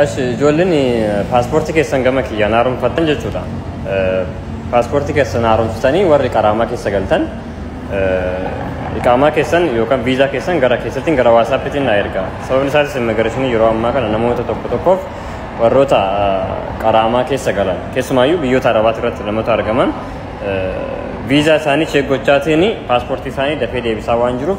Ashi ijoolleen paaspoortii keessan gama kiyyaan haaromfattan jechuudha. Paaspoortii keessan haaromsitanii warri qaraamaa keessa galtan iqaamaa keessan yookaan viizaa keessan gara keessattiin gara waasaappiitiin na erga. Sababni isaatis immigireeshinii yeroo ammaa kana namoota tokko tokkoof warroota qaraamaa keessa galan keessumaayyuu biyyoota arabaati irratti namoota argaman viizaa isaanii cheek gochaatiin paaspoortii isaanii dafee deebisaa waan jiruuf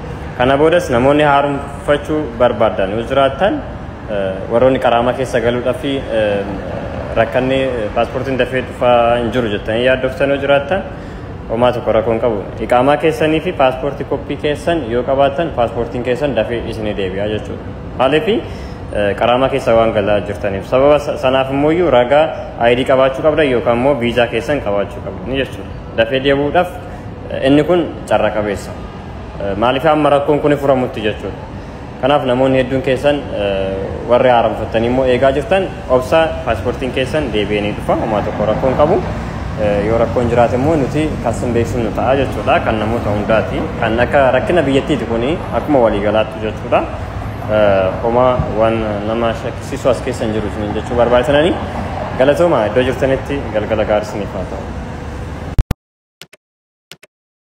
Kana boodas namoonni haaromfachuu barbaaddan yoo jiraattan warroonni qaraamaa keessa galuudhaa fi rakkanni paaspoortiin dafee dhufaa hin jiru jettanii yaaddoftan yoo jiraattan homaa tokko rakkoo hin qabu. Iqaamaa keessanii fi paaspoortii koppii keessan yoo qabaattan paaspoortiin keessan dafee isinii deebi'a jechuudha. Maaliif qaraamaa keessa waan galaa jirtaniif sababa sanaaf immoo iyyuu ragaa ayidii qabaachuu qabdan yookaan immoo viizaa keessan qabaachuu qabdan jechuudha. Dafee deebi'uudhaaf inni kun carra qabeessa. Maaliif amma rakkoon kun furamutti jechuudha. Kanaaf namoonni hedduun keessan warri haaromfattanii immoo eegaa jirtan obsa paaspoortiin keessan deebi'ee ni dhufa homaa tokko rakkoon qabu. Yoo rakkoon jiraate immoo nuti kan sin beeksifnu ta'a jechuudha kan namoota hundaati. Kan akka rakkina biyyattiiti kuni akkuma waliigalaatti jechuudha. Homaa waan nama shakkisiisu as keessa hin jiru isiniin jechuu barbaachisanani. Galatooma iddoo jirtanitti galgala gaarii isiniif haa ta'u.